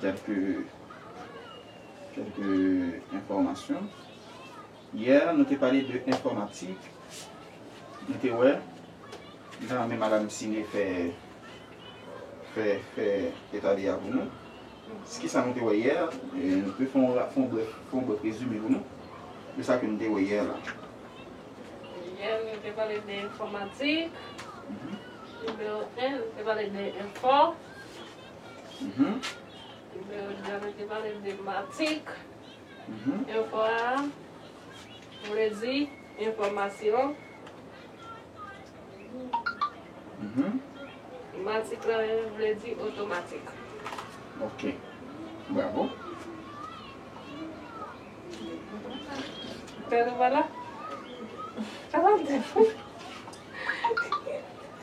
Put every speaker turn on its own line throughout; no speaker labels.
Kèlke enfòmasyon. Yè nou te pale de enfòmatik. Nou te wè kijan men madam Cine fè eta de a pou nou. Kisa nou te wè yè. Nou te fè yon brèf rezime pou nou de sa ke nou te wè yè la.
Yè nou te pale de enfòmatik. Nimewo 1, nou te pale de enfò. Nimewo 2 a mwen te pale de matik. Enfo a vle di enfòmasyon. Matik la vle di otomatik. Ok.
Bravo.
Pè Louvana, sa sa vle di pou ou?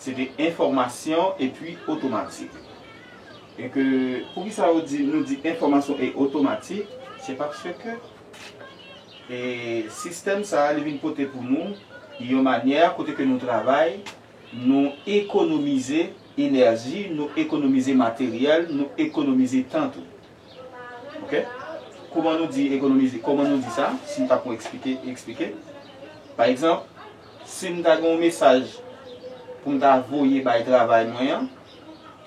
Se te enfòmasyon e pwi otomatik. E ke pou ki sa yo di nou di enfòmasyon e otomatik, se paske ke e sistèm sa a li vin pote pou nou yon manyè kote ke nou travay, nou ekonomize enèji, nou ekonomize materyèl, nou ekonomize tan tou. Ok? Kouman nou di ekonomize, kouman nou di sa, si m ta pou eksplike, eksplike. Pa egzanp. Sim ta gen yon mesaj poum ta voye bay travay mwen an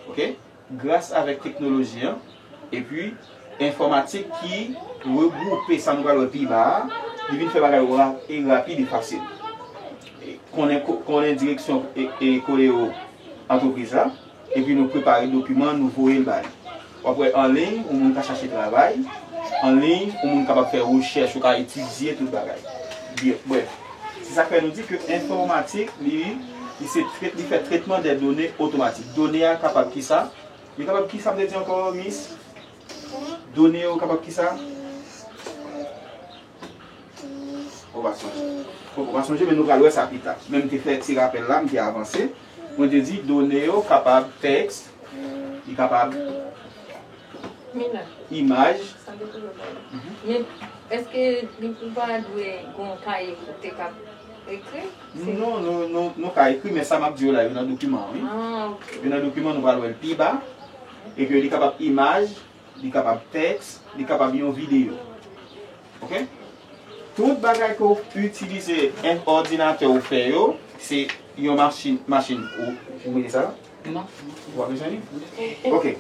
ok gras avèk teknoloji an epi enfòmatik ki regwoupe sa nou pral wè pi ba a li vin fè bagay yo rapid e fasil konnen direksyon e koleyo antrepriz la. Epi nou prepare dokiman nou voye l ba li. W ap wè anliy ou moun ka chache travay, anliy ou moun kapab fè rechèch, ou ka etidye tout bagay. Brèf, se sa k fè nou di ke enfòmatik li se trèt, li fè trètman dè done otomatik. Done a kapab ki sa? Li kapab ki sa m te di ankò mis? Done yo kapab ki sa? Ou pa sonje. Bon, ou pa sonje men nou pral wè sa pita. Men m te fè ti rapèl la, m te avanse. Mwen te di done yo kapab tèks, li kapab imaj.
Sa depan lè w pale. Men, èske li pou pa dwe gen yon kaye pou te
ka ekri? Non, non, nou ka ekri men sa m ap di yo la yo nan dokiman an wi. Yo nan dokiman, nou pral wè l pi ba. Epi li kapab imaj, Li kapab tèks, li kapab yon videyo. Ok. Tout bagay ke w itilize en òdinatè w fè yo, se yon machin, machin ou, ou mete sa? Non. Ou pa
bezwen li?
Ok.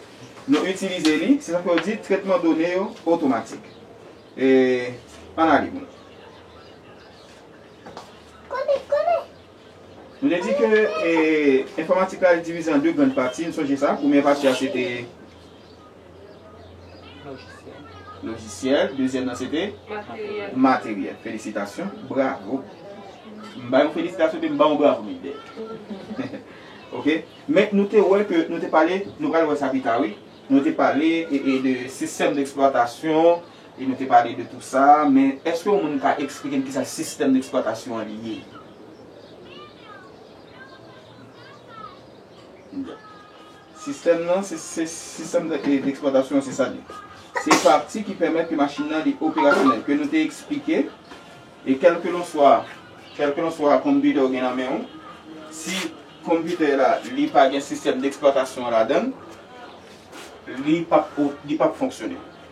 Nou itilize li, se sa fè yo di tretman done yo otomatik. E, ann ale pou nou. Nou te di ke enfòmatik la divize an 2 grand pati, nou sonje sa, premyè pati a se te lojisyèl, dezyèm nan se te materyèl, felisitasyon, bravo, m bay ou felisitasyon epi m ba ou bravo Mickday, ok, men nou te wè ke, nou te pale, nou pral wè sa pita wi, nou te pale de sistèm d'eksplwatasyon. E nou te pale de tout sa, men eske yon moun ka eksplike m kisa sistèm deksplwatasyon an ye? Sistèm nan, sistèm deksplwatasyon an se sa li ye. Se pati ki pèmèt ke machin nan li operasyonèl, ke nou te eksplike, e kèlkelanswa, kèlkelanswa konpitè ou gen nan men ou, si konpitè la li pa gen sistèm deksplwatasyon an ladan l, li p ap fonksyone.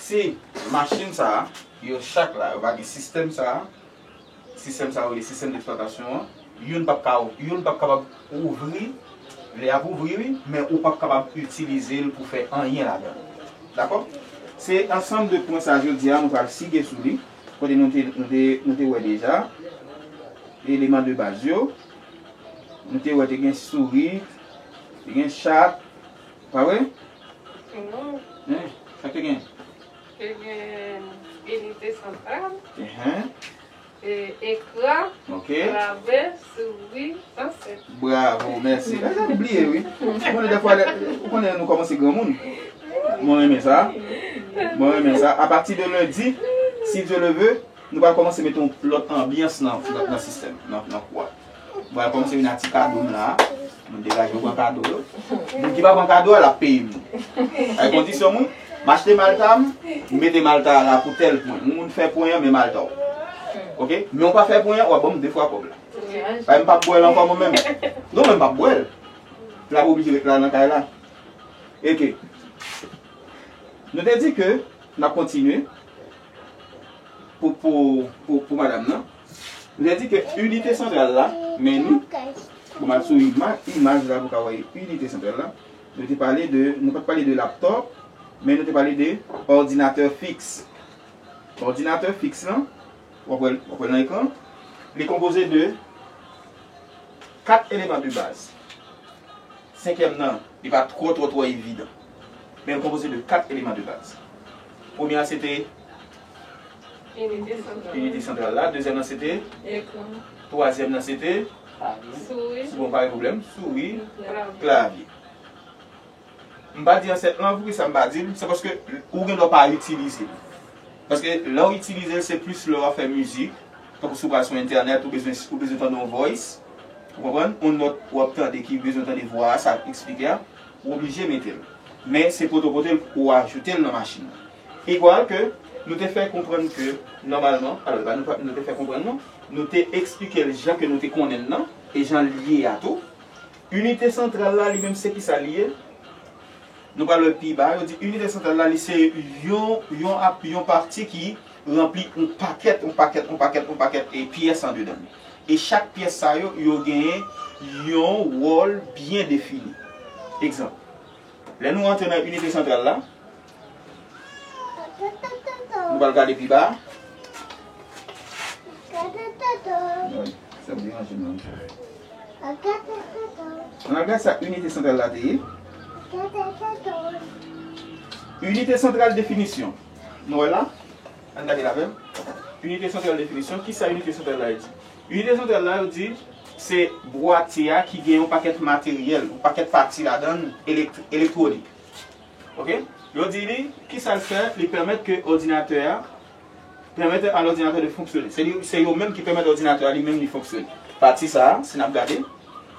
Si machin sa a, yo chak la, yo pa gen sistèm sa a, sistèm sa a yo rele sistèm d'eksplwatasyon an, youn pap ka, youn pap kapab ouvri, lè y ap ouvri wi, men ou pap kapab itilize l pou fè anyen ladan l. Dakò? Se ansanm de pwen sa a jodi a nou pral sige sou li, kote nou te, nou te, nou te wè deja eleman de baz yo. Nou te wè te gen sourit, te gen chat, Pa wè? Non.
Hein? Sak
te gen? Te gen
inite santral. Ehe. E ekran. Ok.
Lave,
souri, danse. Bravo, mèsi.
Mwen sa nou bliye wi. Ou konnen defwa lè, ou konnen nou kòmanse granmoun. Mwen renmen sa. Mwen renmen sa. A pati de lundi, si Dieu le veut, nou pral kòmanse mete yon lòt anbyans nan nan sistèm, nan nan kou a. Vwala kòm se vin ak ti kado m la a. Mwen degaje mwen pran kado yo. Moun ki pa pran kado a l ap peye m li. Bay kondisyon m wi. M achte malta m, m mete malta a la pou tèl pwen. Yon moun fè pwen an men malta w. Ok? Men w pa fè pwen an, w ap ban m de fwa kòb la. Bay m pa p bwè l ankò mwen menm. Non men m pa p bwè l. L ap oblije ret la nan kay la. Eke. Nou te di ke n ap kontinye pou pou pou madam nan. Nou te di ke inite santral la, meni, pou m al sou imaj la pou w ka wè inite santral la, nou te pale de, nou pa t pale de laptop, men nou te pale de òdinatè fiks. Òdinatè fiks lan, w ap wè l, w ap wè l nan ekran an, li konpoze de 4 eleman de baz. Senkyèm nan, li pa twò twò twò evidan, men l konpoze de 4 eleman de baz. Premye a se te. Inite santral la. Inite santral la. Dezyèm nan se te? Ekran.
Twazyèm nan se
te? Klavye.
Souris. Bon, pa gen pwoblèm.
Souri. Klavye. Klavye. M pa di ansèt lan, poukisa m pa di l? Se paske ou gen dwa pa itilize l. Paske lè ou itilize l, se plis lè w ap fè mizik, tankou si w pral sou entènèt, ou bezwen ou bezwen tande yon voice, ou konprann? Yon nòt ou ap tande ki bezwen tande vwa a, sa l ap esplike a, ou oblije mete l. Men se pote w pote l pou w ajoute l nan machin nan. Igwal ke nou te fè konprann ke nòmalman, alò li pa nou nou te fè konprann non, nou te eksplike l jan ke nou te konnen l nan, e jan l ye a tou. Inite santral la li menm se kisa li ye? Nou pral wè pi ba, yo di inite santral la li se yon, yon a, yon pati ki ranpli yon pakèt, yon pakèt, yon pakèt, yon pakèt e pyès andedan l. E chak pyès sa yo, yo genyen yon wòl byen defini. Egzanp, lè nou antre nan inite santral la, Nou pral gade pi ba. An al gad sa inite santral la te ye. Inite santral definisyon. Nou wè l la? An gade l avè m. Inite santral definisyon. Ki sa inite santral la yo di? Inite santral la yo di se bwati a ki gen yon pakèt materyèl, yon pakèt pati ladan l elektwonik. Ok. Yo di li, kisa l fè? Li pèmèt ke òdinatè a, Permettre à l'ordinateur de fonctionner. Se li, se yo menm ki pèmèt òdinatè a li menm li fonksyone. Pati sa a, si n ap gade,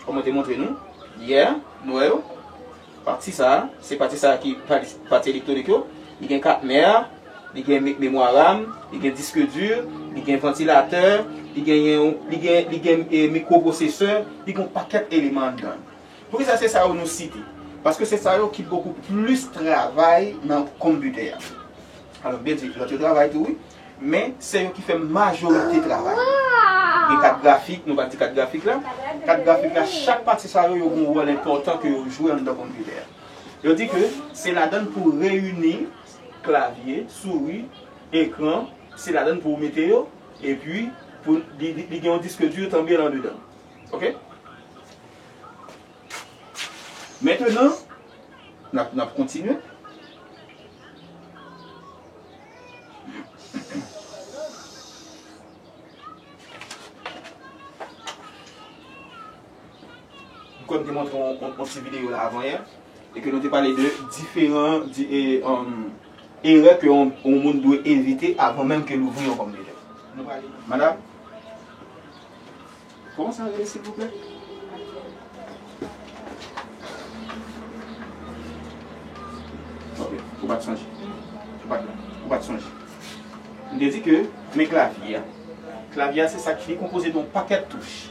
kòm mwen te montre nou, yè, nou wè yo, pati sa a, se pati sa a ki pati, pati elektwonik yo, li gen kat mè a, li gen me, memwa ram, li gen disk dur, li gen vantilatè, li genyen yon, li gen, li gen e, mikwo-pwosesè, li gen yon pakèt eleman anndan l. Poukisa se sa yo nou site? Paske se sa yo ki bokou plis travay nan konpitè a. Alò m te di lòt yo travay tou wi, men se yo ki fè majorite travay yo. Gen kat grafik, nou pa di kat grafik la. Kat grafik la, chak pati sa yo, yo gen yon wòl enpòtan ke yo jwe anndan konpitè a. Yo di ke se ladann pou w reyini klavye, souri, ekran, se ladann pou ou mete yo, epi pou li gen yon disk dur tanbyen andedan. Ok? Mentenan, n ap kontinye. M kwè m te montre yon ti videyo la avanyè, e ke nou te pale de diferan erè ke yon moun dwe evite avan menm ke l ouvri yon pòm de tè. Madam? Koman sa rele silvouplè? Ok, ou pat sonje. Ou pat la. Ou pat sonje. M te di ke men klavye a. Klavye a se sa ki li konpoze de yon pakèt touch.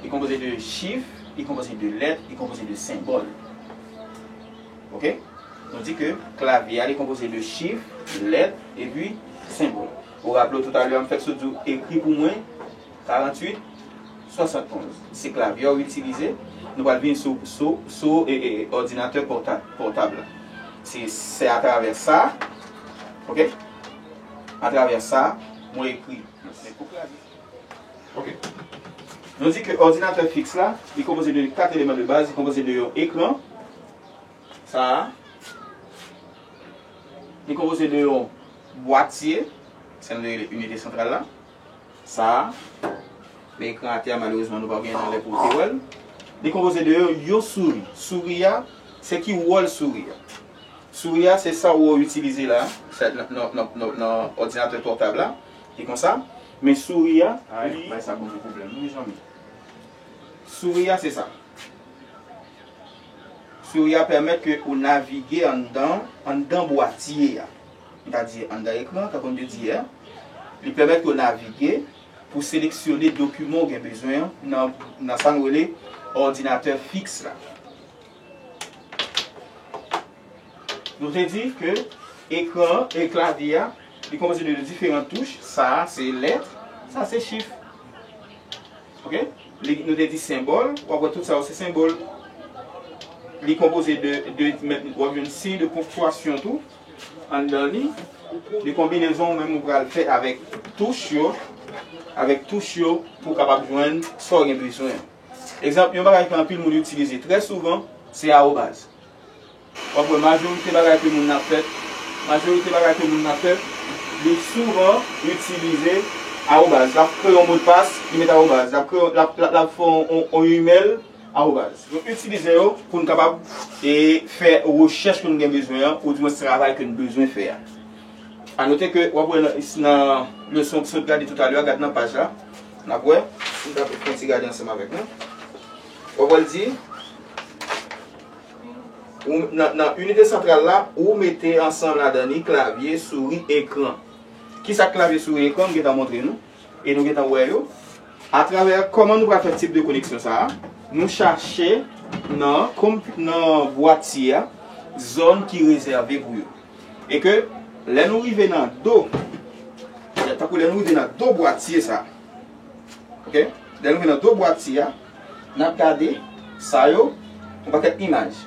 Li konpoze de chif, li konpoze de lèt, li konpoze de senbòl. Ok? Nou di ke klavye a li konpoze de chif, lèt, epi senbòl. Ou raple w toutalè m fèk sot di w ekri pou mwen. 48, 71. Se klavye ou itilize. Nou pral vini sou sou òdinatè pòtab la. Se se atravè sa ok atravè sa mwen ekri. Men pou klavye. Ok. Nou di ke òdinatè fiks la li konpoze de 4 eleman de baz. Li konpoze de yon ekran sa a. Li konpoze de yon bwatye, sa nou rele inite santral la. sa a, men ekran atè a malerezman nou pa genyen nan lè pou ou te wè l. Li konpoze de yon souri. Souri a, se ki wòl souri a? Souri a se sa wou itilize la, sa nan òdinatè pòtab la, e konsa. Men souri a, li. Bay sa Bondye pwoblèm non mezanmi. Souri a se sa. Souri a pèmèt ke ou navige anndan, anndan bwatye a. nou ta di anndan ekran, tankou m te di yè, li pèmèt yo navige pou seleksyone dokiman ou gen bezwen an nan sa nou rele òdinatè fiks la. Nou te di ke ekran an, e klavye a, li konpoze de diferan touch, sa a se lèt, sa a se chif. Ok? Nou te di senbòl, w ap wè tout sa yo se senbòl. Li konpoze de, w ap jwenn siy de ponktiyasyon tou. Anndan li, li konbinezon ou menm ou pral fè avèk touch yo, avèk touch yo pou w kapab jwenn sa w gen bezwen an. Egzanp, yon bagay ke anpil moun itilize trè souvan, se awobaz. W ap wè majorite bagay ke moun ap fè, majorite bagay ke moun ap fè, li souvan itilize awobaz. L ap kreye yon modpas, li met awobaz. L ap kreye, l ap, l ap fè yon imèl. Awobaz. Nou itilize yo pou n kapab fè rechèch ke n gen bezwen an oudimwens travay ke n bezwen fè a. Anote ke w ap wè nan leson w sot gade toutalè a, gade nan paj la, n ap wè, si n ta fè yon ti gade ansanm avèk mwen, w ap wè l di, nan inite santral la, ou mete ansanm ladan li klavye, souri, ekran. Kisa klavye, souri, ekran? M gentan montre nou. e nou gentan wè yo atravè kòman nou pral fè tip de koneksyon sa nou chache nan nan bwatye a zòn ki rezève pou yo e ke lè nou rive nan do tankou lè nou rive nan do bwatye sa ok lè nou rive nan do bwatye a nap gade sa yo yon pakèt imaj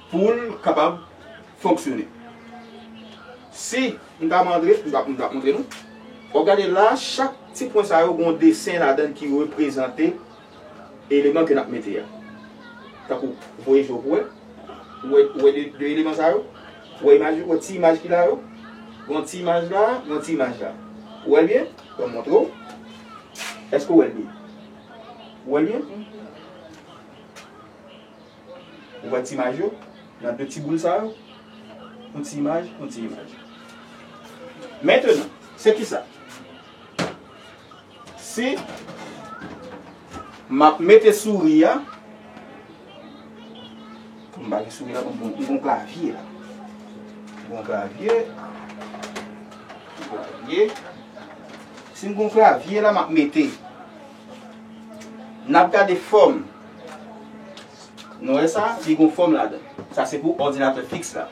Pou l kapab fonksyone. Si m ta montre, m ta montre nou. Wap gade la, chak ti pwen sa yo gen yon desen ladan l ki reprezante eleman ke n ap mete a. Tankou, ou voye je w pou wè. Ou wè, ou wè 2 eleman sa yo? Ou wè imaj, ou wè ti imaj ki la yo? Gen yon ti imaj la, gen yon ti imaj la. Ou wè l byen? Bon m montre w. Èske ou wè l byen? Ou wè l byen? Ou wè ti imaj yo? Nan de ti boul sa yo? Yon ti imaj, yon ti imaj. Mentenan, se kisa? Si m ap mete souri a, pou m pa gen souri la, m pou m klavye la. M pou m klavye. M pou m klavye. Si m pou m klavye la, m ap mete. N ap gade fòm. Nou wè sa? Li gon fòm ladan l. Sa se pou òdinatè fiks la.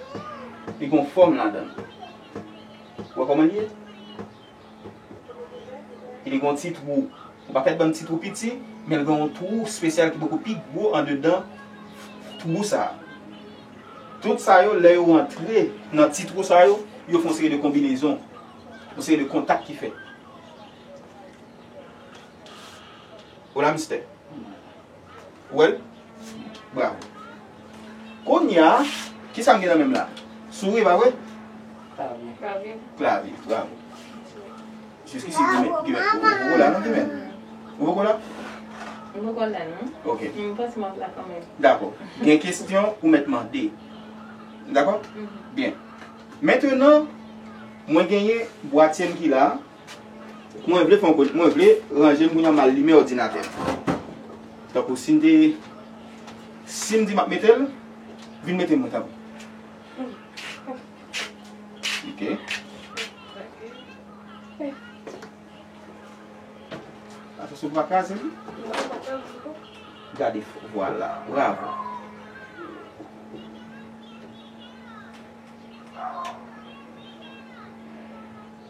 Li gon fòm ladan l. Ou wè kòman li ye? E li gon ti twou. Yon pakèt bann ti twou piti, men l gen yon twou spesyal ki poko pi gwo andedan twou sa a. Tout sa yo, lè yo antre nan ti twou sa yo, yo fè yon seri de konbinezon. Yon seri de kontak ki fèt. Hola mister. Ou wèl? Bravo. Kounya, ki sa m gen nan men m la? Souri pa vre? Klavye.
Klavye,
bravo. Jiskisi ki men, ki men. Ou poko la non ki men? Ou poko la? M poko
la non. Ok. Men m panse m ap la kanmenm. Dakò. Gen
kestyon ou mèt mande. Dakò? Byen. Mentenan, mwen genyen bwatye m ki la. Mwen vle fon kote, mwen vle ranje kounye a mal limen odinatè. Tankou sim te sim di map metel vin mete mwen tanpri. Atos ou pa kraze li? Gade fo vwala, bravo.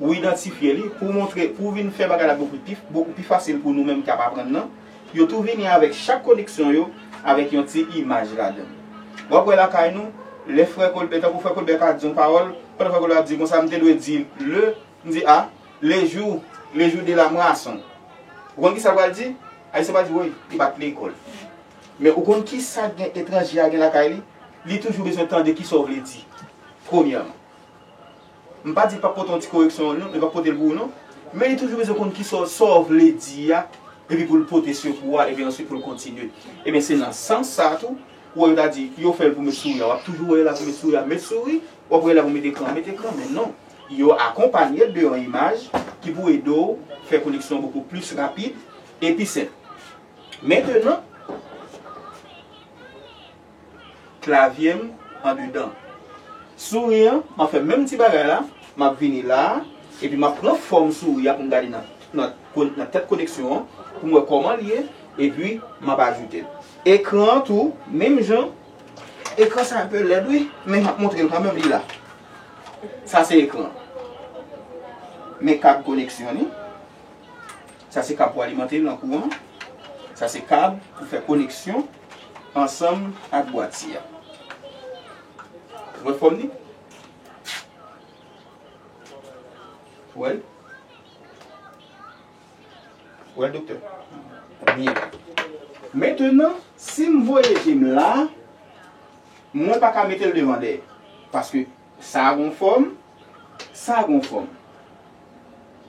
Ou idantifye li, pou w montre, pou w vin fè bagay la bokou pi, bokou pi fasil pou nou menm k ap aprann nan. Yo tou vini avèk chak koneksyon yo avèk yon ti imaj ladan. W ap wè lakay nou, lè frè Kolbè, tankou frè Kolbè ka di yon pawòl, pandan frè Kolbè ap di kon sa, m te dwe di le, m di a, le jou, le jou de la moisson. Ou konn ki sa l pral di? Ayisyen pral di woy, li pa t lekòl. Men ou konn ki sa gen, etranje a gen lakay li? Li toujou bezwen tande ki sa w vle di, premyèman. M pa di li pap pote yon ti koreksyon non, li pap pote l pou ou non, men li toujou bezwen konn kisa w sa w vle di a epi pou l pote sekou a epi answit pou l kontinye. Ebyen se nan sans sa a tou, ou wè yo ta di yo fè l pou met souri a, w ap toujou wè yo la pou met souri a, met souri, w ap wè yo la pou met ekran, met ekran, men non, yo akonpanye l de yon imaj ki pou ede w fè koneksyon bokou plis rapid e pi senp. Mentenan. Klavye m andedan. Souri an, m ap fè menm ti bagay la, m ap vini la a, epi m ap pran fòm souri a pou m gade nan nan tèt koneksyon an pou m wè kòman l ye, epi m ap ajoute l. Ekran an tou, menm jan, ekran sa enpe lèd wi, men m ap montre l kanmenm, li la. Sa se ekran an. Men kad koneksyon li. Sa se kab pou alimante l an kouran. Sa se kab pou fè koneksyon ansanm ak bwati a. Ou wè fòm li? Ou wè l? Ou wè l doktè? Byen. Mentenan, si m voye je m la, mwen pa ka mete l devan dèyè. Paske. Sa gon fòm, sa gon fòm.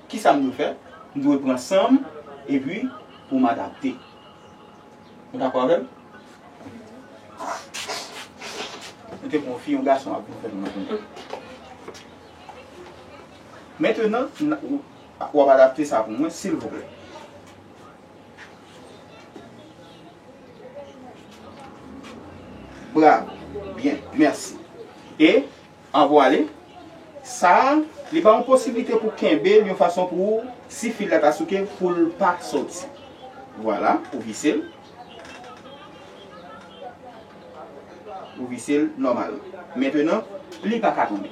Kisa m dwe fè? M dwe pran san m epi pou m adapte. Ou dakò avè m? Ou te pran yon fi, yon gason ap vin fè l mal. Mentenan, w ap adapte sa pou mwen, silvouplè? Bravo byen merci e an vwale sa a li ba ou posiblite pou kenbe l yon fason pou ou si fil la ta souke pou l pa soti vwala ou vise l ou vise l nòmal mentenan li pa ka tonbe.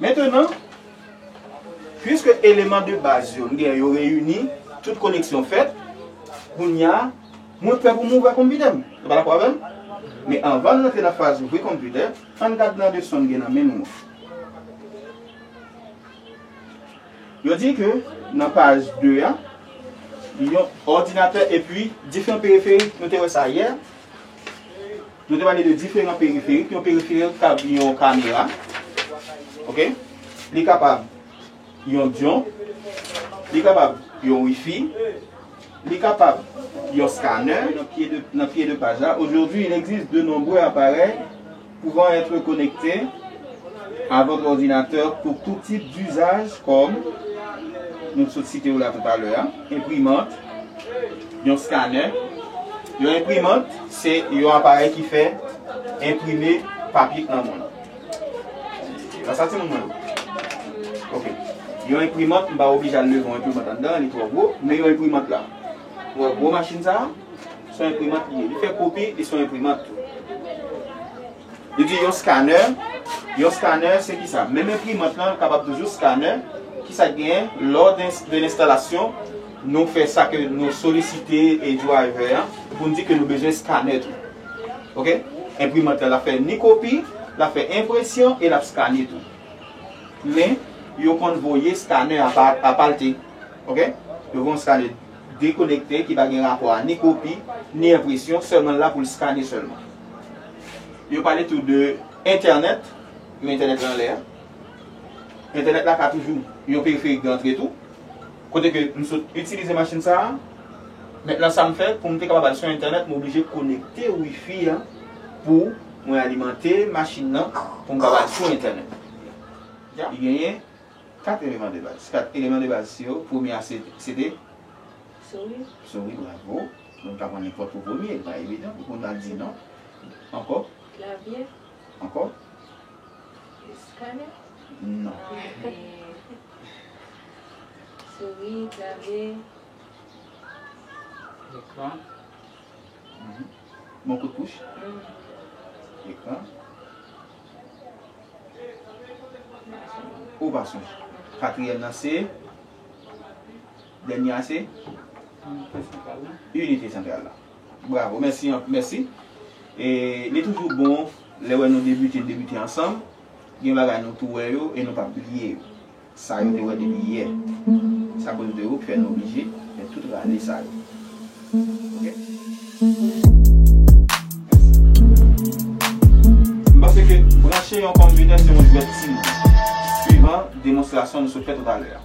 Mentenan, pwiske eleman de baz yo m gen yo reyini, tout koneksyon fèt, kounya mwen prè pou m ouvè konpitè m. Nou pa dakò avè m? Men anvan n rantre nan faz ouvri konpitè, an n gad nan de son m gen nan men m yo. Yo di ke nan paj 2 a, yon òdinatè epi diferan periferik, nou te wè sa yè, Nou te pale de diferan periferik. Yon periferik kab yon kamera. Ok. Li kapab yon diyon. Li kapab yon wifi. Li kapab yon scanner. Nan pye de paj la. Aujourd'hui il existe de nombreux appareils pouvant etre connectes à votre ordinateur pour tout type d'usage comme nou t sot site yo la tout a lè a. Enprimant, yon skanè. Yon enprimant se yon aparèy ki fè enprime papye k nan moun. Nan sa timoun mwen yo? Ok. Yon enprimant m pa oblije al leve yon enprimant anndan an li twò gwo, men yon enprimant la. Ou wè gwo machin sa a? S on enprimant li ye. Li fè kopi, li s on enprimant tou. Yo di yon skanè, yon skanè se ki sa? Menm enprimant lan kapab toujou skanè, ki sa k genyen? Lò de lenstalasyon, nou fè sa ke nou solisite e driver an pou n di ke nou bezwen skanè tou. Ok? Enprimant lan l ap fè ni kopi, l ap fè enpresyon e l ap skane tou. Men, yo konn voye skanè apa, apalte. Ok? Yo voye yon skanè dekonekte ki pa gen rapò a ni kopi, ni enpresyon, sèlman l la pou l skane sèlman. Yo pale tou de entènèt, men entènèt lan anlè. Entènèt la ka toujou yon periferik de antre tou. Kote ke m sot itilize machin sa a, mentnan sa m fè pou m te kapab al sou entènèt m oblije konekte wifi a pou mwen alimante machin lan pou m kapab al sou entènèt. Li genyen 4 eleman de baz. 4 eleman de baz yo, premye a se te? Souris. Souris, bravo. Mwen pa konnen kot pou premye, li pa evidan pou konn al di non. Anko? Klavye?
Anko? Eskanè?
Non.
Souri, klavye. Ekran?
Bon kout pouch? Ekran? Ou pa sonje. Katriyèm nan se? Dènye a se Inite santral la. Bravo. Mèsi anpl. Mèsi. E li toujou bon lè wè nou debite n debite ansanm. Gen bagay nou tou wè yo e nou pap bliye yo. Sa yo te wè depi yè. Se akoz de ou ki fè nou oblije fè tout rale sa yo. M panse ke branche yon konbinè se yon jwèt timoun. Swivan demonstrasyon nou sot fè toutalè a.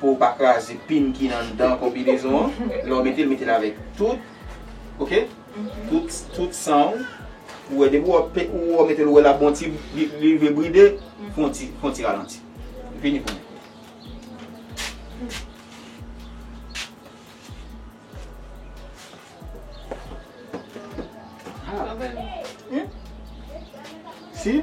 pou ou pa kraze pin ki anndan konbinezon an lè ou metel metel avèk tout ok tout san ou ou wè depi ou metel ou wè lap bon ti li vle bride fon ti ralanti vini pou mwen si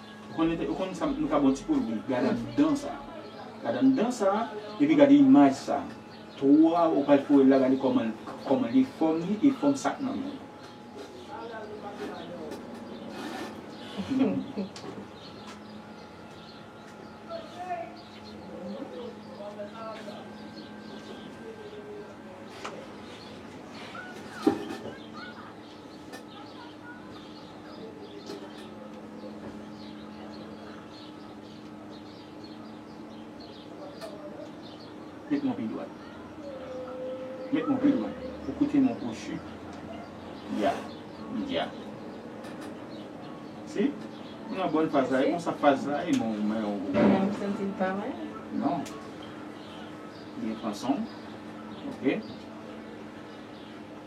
Ou konn ou konn sa nou ka bon ti poz wi gad anndan sa gad anndan sa epi gad imaj sa twa ou pral foyel la gade kòman kòman li fòm li e fòm sak nan menl. Met mon pi dwat. Met mon pi dwat. Ou koute mon kwochi. Ya. Ya. Si. Ou nan bòn faz la. E konsa faz la e mon men ou. Ou menm ou santi l pa mwen? Non. Byen pran son w. Ok.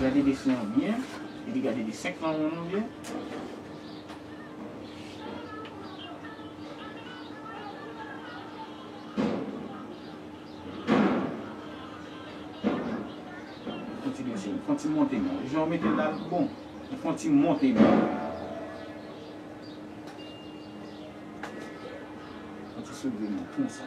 Gade desen an byen, epi gade desen knwon an byen. Konti desen an, konti monte nan. Jan w mete la l pi bon. Ou konti monte nan. Konti soulve nan konsa.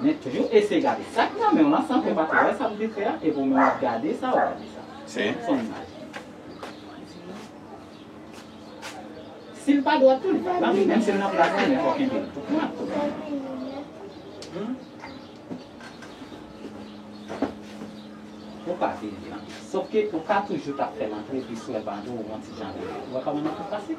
Men toujou eseye gade sa ki nan men w lan san ke w pa te wè sa m te fè a, epi w menm w ap gade sa, w ap gade sa. Se yon imaj. Si l pa dwat tou, li pa dwat, men menm si l nan plas li, men fò w kenbe l tou plat tou menm. Ou pa vire l lan. Sof ke ou ka toujou ta fè l antre pi sou èv an tou, yon ti jan, ou wè kòman li pi fasil?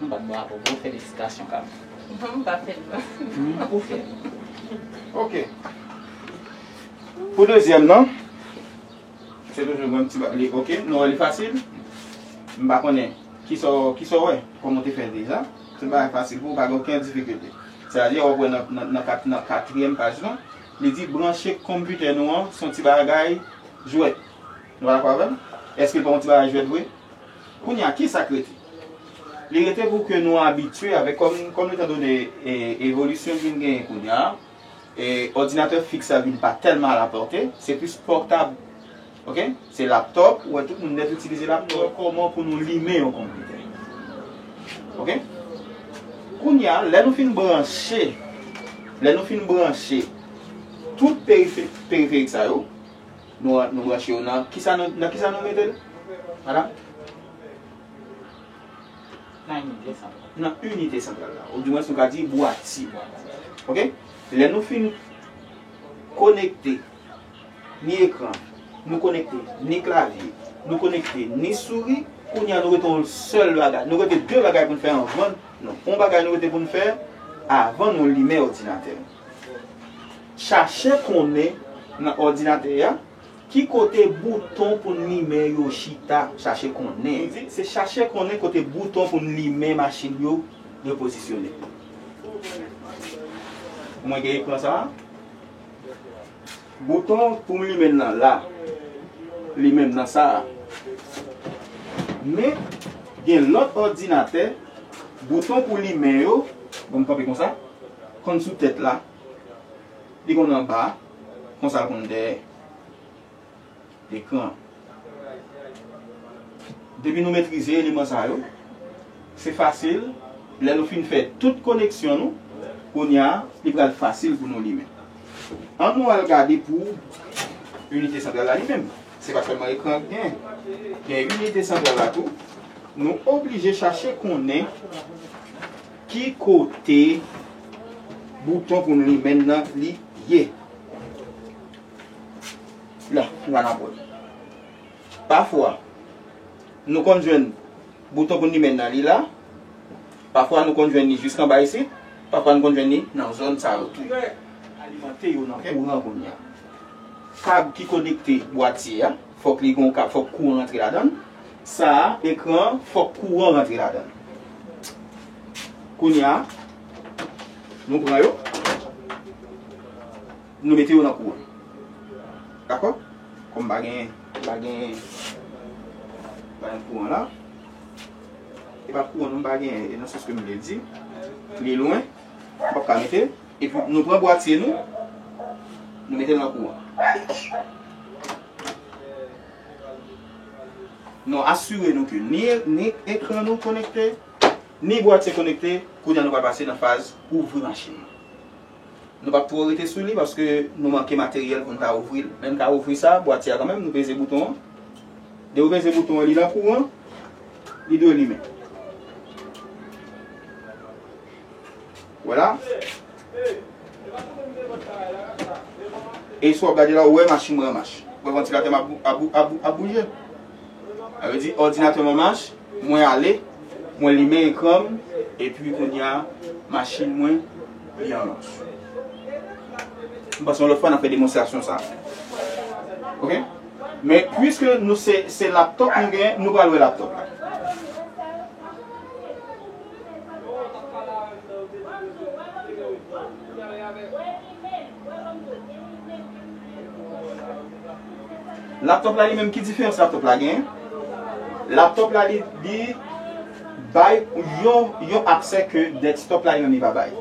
M bat bravo pou ou felisitasyon Kami. M pa fè
l non.
Ou fè l. Ok. Pou dezyèm nan, se toujou menm ti bagay li. Ok, nou wè li fasil. M pa konnen kisa w wè, kòman w te fè l deja. Se bagay fasil pou ou, pa gen okenn difikilte. Se a di wap wè nan katriyèm paj lan, li di branche konpitè nou an se yon ti bagay jwèt. Nou pa dakò avè m? Eske l pa yon ti bagay jwèt vre? Kounye a, ki sa k rete? Li rete pou ke nou abitye avèk, kòm etan done evolisyon ki vin genyen kounye a, òdinatè fiks la vin pa tèlman alapòte, se plis pòtab, ok, se laptòp, ou wè tout moun nèt itilize laptòp. Kòman pou nou limen yon konpitè. Ok. Kounye a, lè nou fin branche, lè nou fin branche tout periferik sa yo, Nou branche yo nan kisa nou nan kisa nou metel madam? Nan inite santral. Nan inite santral la. Ou di mwens nou ka di bwati. Ok? Lè nou fin konekte ni ekran, nou konekte ni klavye, nou konekte ni souri, kounye a nou rete yon sèl bagay. Nou rete 2 bagay pou n fè anvan nou. Yon bagay nou rete pou n fè avan nou limen odinatè nou. Chache konnen nan òdinatè a ki kote bouton pou n limen yo chita. Chache konnen. M di, se chache konnen kote bouton pou n limen machin yo repozisyone. Mwen gen ekran sa a. Bouton pou m limen l nan la. Li menm nan sa a. Men, gen lòt òdinatè, bouton pou limen yo, bon m kanpe konsa, konn sou tèt la, li konn anba, konsa l konn dèyè. Ekran. Depi nou metrize eleman sa yo, se fasil lè nou fin fè tout koneksyon nou, kounya li pral fasil pou nou limen. An nou al gade pou inite santral la li menm. Se pa sèlman ekran ki genyen. Gen inite santral la tou. Nou oblije chache konnen ki kote bouton pou nou limen nan li ye. Non, m pa kapon. Pafwa, nou konn jwenn bouton pou limen nan li la. Pafwa, nou konn jwenn li jiska anba isit. Pafwa, nou konn jwenn li nan zòn sa yo tou. Alimante yo nan kouran kounye a. Kab ki konekte bwatye a, fòk li gen yon kab, fòk kouran rantre ladan l. Sa a, ekran an, fòk kouran rantre ladan l. Kounye a, nou pran yo. Nou mete yo nan kou an. Dakò? Kòm pa gen, pa gen, pa gen kouran la. E pa kouran non, pa gen, e nan sans ke m vle di. Li lwen, m pap ka mete. E pi nou pran bwatye nou, nou mete l nan kou an. Nou asire nou ke ni, ni ekran nou konekte, ni bwatye konekte. Kounye a nou pral pase nan faz ouvri machin nan. Nou pap twò rete sou li paske nou manke materyèl pou n ta ouvri l. Lè n ta ouvri sa, bwatye a kanmenm, nou peze bouton an. Lè ou peze bouton an, li nan kouran, li dwe limen. Ou wè la? E si w ap gade la, ou wè machin m an mach. Ou wè vantilatè m ap bouje? Sa vle di òdinatè m an mach, mwen ale, mwen limen ekran m, epi kounye a machin mwen li an mach. M panse yon lòt fwa n ap fè demonstrasyon sa a. Ok? Men puiske nou se se laptop nou gen, nou pral wè laptop la. Laptop la li menm ki diferans laptop la gen? Laptop la li bay yon aksè ke desktop la li menm li pa bay.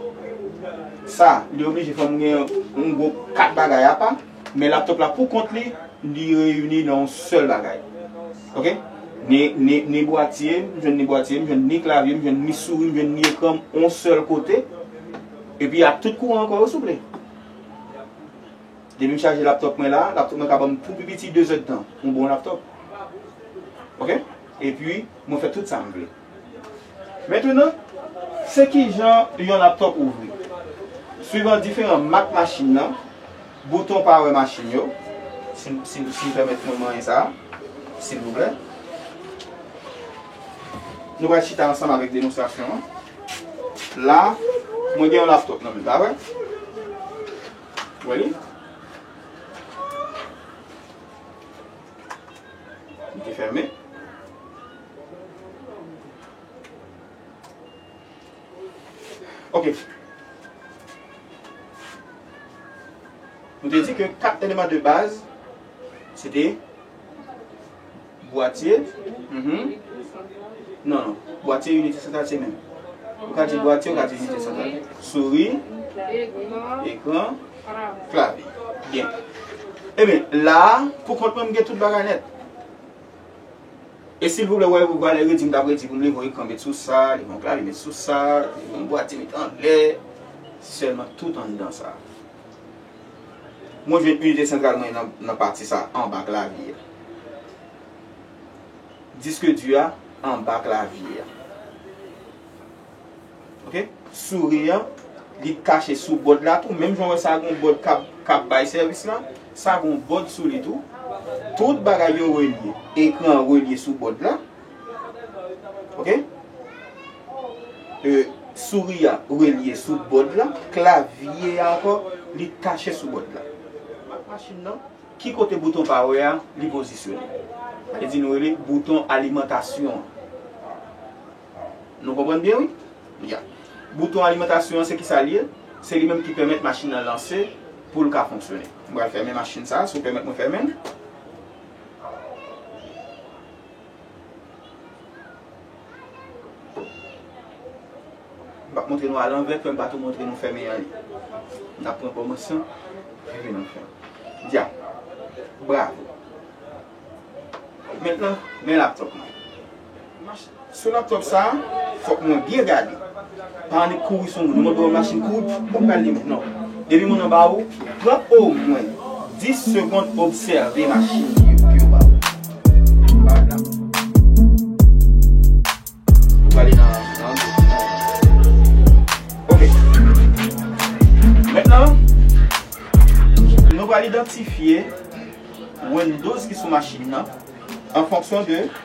Sa li oblije fòm gen yon gwo 4 bagay apa, men laptop la pou kont li, li reyini nan yon sèl bagay. Ok? Ni bwatye, m jwenn ni bwatye, m jwenn ni klavye, m jwenn ni souri, m jwenn ni ekran m yon sèl kote. Epi ak tout kouran ankò wi souple. Depim chaje laptop mwen la, laptop mwen ka banm pou pi piti 2 zèd tan. Yon bon laptop. Ok. Epi mwen fè tout sam vle. Mentenan, se kijan yon laptop ouvri. Swivan diferan mak machin nan, bouton power machin yo, si m pèmèt mwen manyen sa a, silvouplè. Nou pral chita ansanm avèk demonstrasyon an. La, mwen gen yon laptop nan men, pa vre? Wè li? Li te fèmen? Ok. Nou te di ke 4 eleman de baz, se te... Bwatye, Uhmm non non bwatye inite santral se menm Ou ka di bwatye ou ka di inite santral Souri, ekran, klavye Byen Ebyen la a pou kont mwen m gen tout bagay nèt E silvouplè wè ou valè redi m t ap redi pou m leve yon ekran met sou sa leve yon klavye met sou sa leve yon bwatye met anlè Sèlman tout anndan sa a. Mwen jwenn inite santral mwen nan pati sa anba klavye a. Disk du a anba klavye a. Ok. Souri an, li kache sou bòd la tou. Menm jan ou wè sa gen yon bòd k ap bay sèvis la, sa gen yon bòd sou li tou. Tout bagay yo relye. Ekran an relye sou bòd la. Ok euh souris a relye sou bòd la klavye a ankò li tache sou bòd la mak machin nan ki kote bouton power a li pozisyone sa vle di nou rele bouton alimantasyon an nou konprann byen wi ya bouton alimantasyon an se kisa li ye se li menm ki pèmèt machin nan lanse pou l ka fonksyone m pral fèmen machin sa si w pèmèt mwen fèmen l. Mpa k montre nou a lanvè frèm pa tou montre nou fèmen anyen nap pran kòmansman rive nan fen dya bravo mentnan men laptop mwen sou laptop sa fòk mwen byen gade. Paran li k kouri sou ou, li montre ou yon machin kouri pfff ou pa pral li non. Depi moun anba ou, pran omwen 10 segond obsève machin li yo ke yo ba ou. Paran la. Ou prale nan nan antre nan nan. Ok. Mentnan, nou pral idantifye Windows ki sou machin nan an fonksyon de.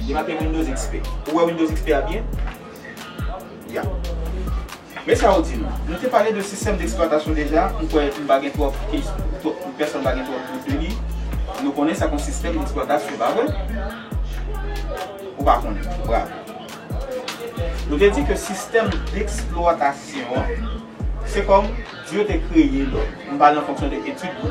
Li make Windows XP. Ou wè Windows XP a byen? Ya. Men sa yo di nou. Nou te pale de sistèm deksplwatasyon deja, m kwè m pa gen twòp kesyon, pèsonn pa gen twòp dout de li. Nou konnen sa k yon sistèm deksplwatasyon, pa vre? Ou pa konnen. Bravo. Nou te di ke sistèm deksplwatasyon an, se kòm Dye te kreye lòm. M pale an fonksyon de etid nou.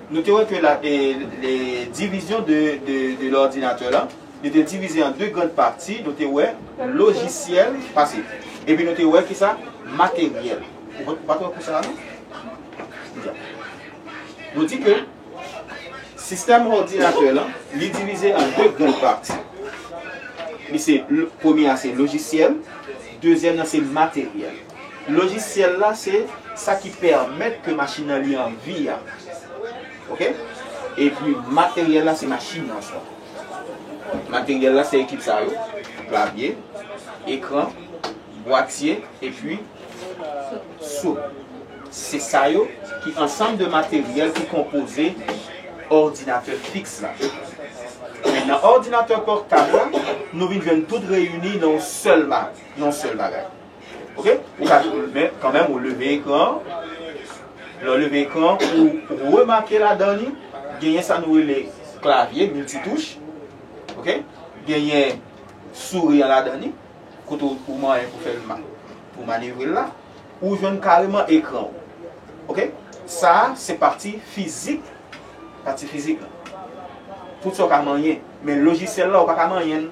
Nou te wè ke la le division de de l'ordinateur la, li te divize an 2 grand pati, nou te wè logiciel, pase, epi nou te wè ki sa? Materiel. Ou pa t wè kou sa a non? Nou di ke sistèm ordinateur lan, li divize an 2 grand pati. Li se, premye a se logiciel, dezyèm nan se materiel. Lojisyèl la se sa ki pèmèt ke machin nan li an vi a. Ok. Epi materyèl la se machin nan swa. Materyèl la se ekip sa yo, klavye, ekran, bwatye epi sou. Se sa yo ki ansanm de materyèl ki konpoze òdinatè fiks la. Men nan òdinatè pòtab la, nou vin jwenn tout reyini nan yon sèl bagay. Ok, ou ka toujou men kanmenm ou leve ekran an, lè ou leve ekran an ou remake ladan li genyen sa nou rele klavye milti touch, ok, genyen souri an ladan li kote ou manyen pou fèl ma, pou manevre l la, ou jwenn kareman ekran ou, ok, sa a se pati fizik, pati fizik la, tout sa ou ka manyen, men lojisyèl la ou pa ka manyen l.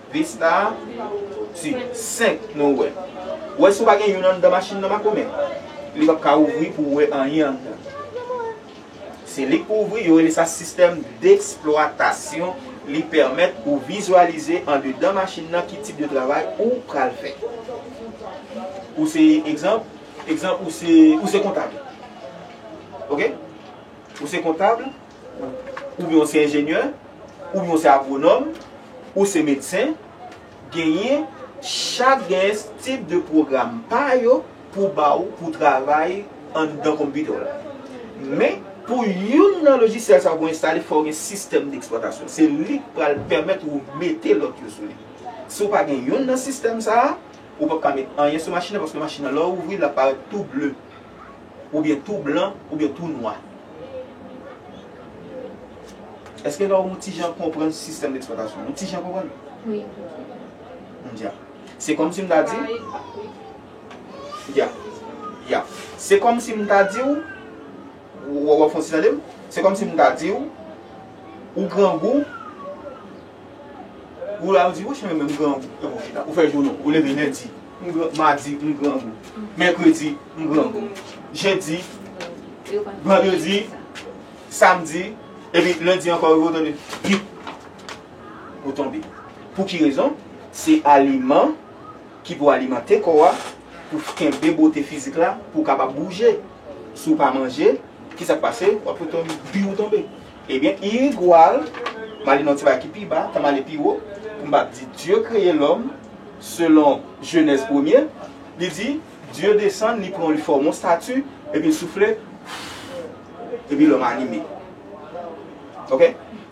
Vesta a tu 5 nou wè. Wè si ou pa gen youn anndan machin nan makomè. Li pap ka ouvri pou ou wè anyen anndan. Se li k pou ouvri, yo rele sa sistèm deksplwatasyon, li pèmèt ou vizyalize andedan machin nan ki tip de travay ou pral fè. Ou se egzanp, egzanp ou se ou se kontab. Ok? Ou se kontab. oubyen ou se enjenyè, oubyen ou se agwonòm, ou se medsen, genyen chak genyen tip de pwogram pa yo pou ba ou pou travay anndan konpitè w la. Men, pou youn nan lojisyèl sa yo pou enstale fò w gen sistèm deksplwatasyon. Se li k pral pèmèt ou mete lòt yo sou li. Si w pa gen youn nan sistèm sa a, ou p ap ka met anyen sou machin nan paske machin nan lè w ouvri l ap parèt tou ble oubyen tou blan oubyen tou nwa. Eske lè ou ti jan konprann sistèm d'eksplwatasyon an? Ou ti jan konprann? Wi.
M dya.
Se kòm si m ta di. Ya. Ya. Se kòm si m ta di ou. Ou wè w ap fon ti tande m? Se kòm si m ta di ou. Ou grangou. Ou la ou di wouch mwen menm m grangou Ou fè jou nou, ou leve lendi M grangou, madi m grangou Mèkredi m grangou Jedi Vandredi Samdi Epi lendi ankò ou tande Pip Ou tonbe Pou ki rezon? Se aliman ki pou alimante kò a pou w kenbe bote fizik la pou w kapab bouje Si w pa manje, kisa k pase? Wap tonbe Pi ou tonbe Ebyen irigual male nan ti bagay ki pi ba, tan male pi wo, pou m pa di Dye kreye lòm selon Jenèz premye, li di Dye desann li pran li fòm yon stati epi l soufle Fouuff epi lòm anime ok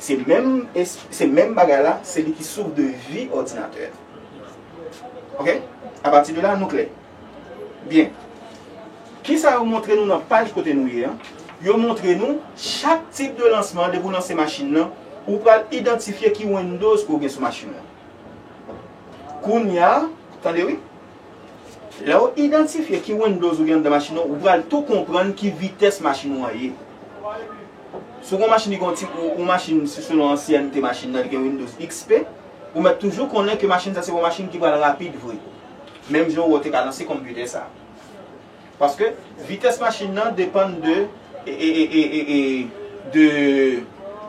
se menm se menm bagay la se li ki sous de vi òdinatè ok apati de la nou klè. Byen. Kisa yo montre nou nan paj kote nou ye an? Yo montre nou chak tip de lansman an depi ou lanse machin nan, ou pral idantifye ki Windows ke ou gen sou machin nan. Kounya, tande wi. Lè ou idantifye ki Windows ou gen anndan machin nan, ou pral tou konprann ki vitès machin ou an ye. Si ou gen yon machin ki gen yon ti, yon machin si selon ansyènte machin nan li gen Windows XP, ou mèt toujou konnen ke machin sa se yon machin ki pral rapid vre. Menm jan wou te ka lanse konpitè sa. Paske vitès machin nan depann de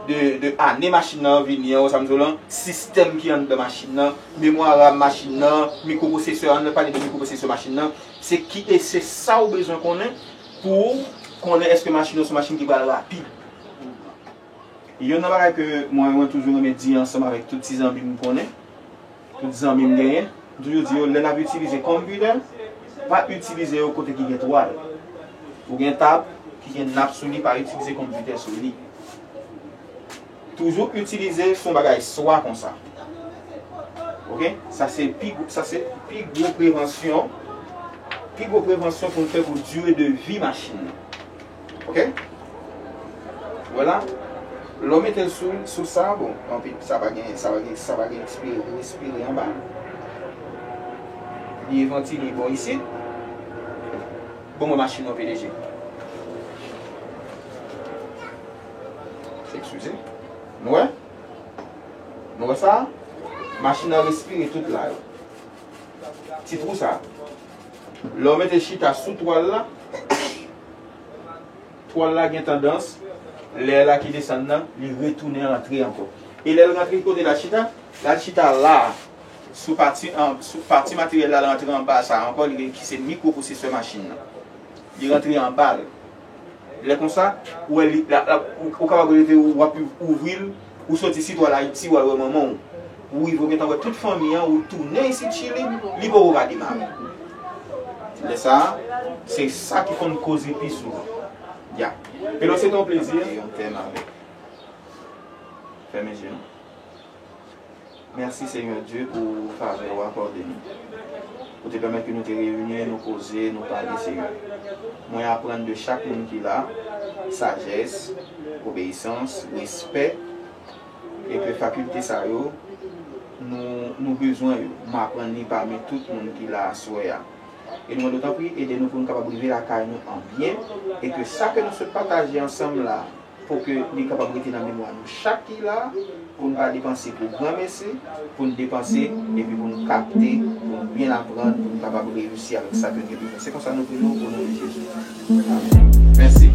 de ane machin nan vini an, wè sa m di w lan, sistèm ki anndan machin nan, memwa ram machin nan, mikropwosesè, an nou pale de mikropwosesè machin nan, se ki e se sa w bezwen konnen pou w konnen eske machin nan se yon machin ki pral rapid. Youn nan bagay ke mwen toujou renmen di ansanm avèk tout ti zanmi m konnen, Tout zanmi m genyen, m toujou di yo lè n ap itilize computer, pa itilize yo kote ki gen twal. Ou gen tab ki gen nap sou li pa itilize computer sou li. Toujou itilize sou yon bagay swa konsa. Ok, sa se pi gwo, sa se pi gwo prevansyon, pi gwo prevansyon pou n fè pou dire de vi machin nan. Ok Voila Lè w mete l sou sou sa bon anpi sa pa gen sa pa gen ekspire pou espire anba Li e vantile bò isit Bon mwen machin nan pdg Ekskize Nou wè Nou wè sa Machin nan respire tout la Ti twou sa Lè w mete chita sou twal la, twal la gen tandans, lè la ki desann nan, li retounen antre ankò. E lè l rantre kote l al chita, l al chita la a, sou pati sou pati materyèl la, l rantre anba sa a ankò, li ki se mikwo-pwosesè machin nan. Li rantre anba l. Lè konsa, ou wè li la, ou kapab reve ou ap ouvri l, ou soti si ou al Ayiti ou al wè manman ou. Ou rive ou gentan wè tout fanmi an, ou tounen isit Chili, li poko ka demare. Lè sa a, se sa ki konn koze pi souvan. Ya. Pero se te yon plezi. Mete yon tèm avèk. Fèmen je nou. Merci Seigneur Dieu pou favè ou akòde nou. Ou te pèmèt ke nou te reyini, nou koze, nou pale Seigneur. Mwen aprann de chak moun ki la, sajès, obeyisans, respè, e ke fakilte sa yo, nou, nou bezwen yo. M aprann li pami tout moun ki la aswè a. E nou mande ou tanpri ede nou pou nou kapab rive lakay nou an byen, e ke sa ke nou sot pataje ansanm la, Pou ke li kapab rete nan memwa nou chak ki la, pou n pa depanse pou granmesi, pou n depanse epi pou n kapte, pou n byen aprann, pou n kapab reyisi avèk sa ke n gen pou n fè. Se konsa nou priye w o non de Jezi. Amen. Mèsi.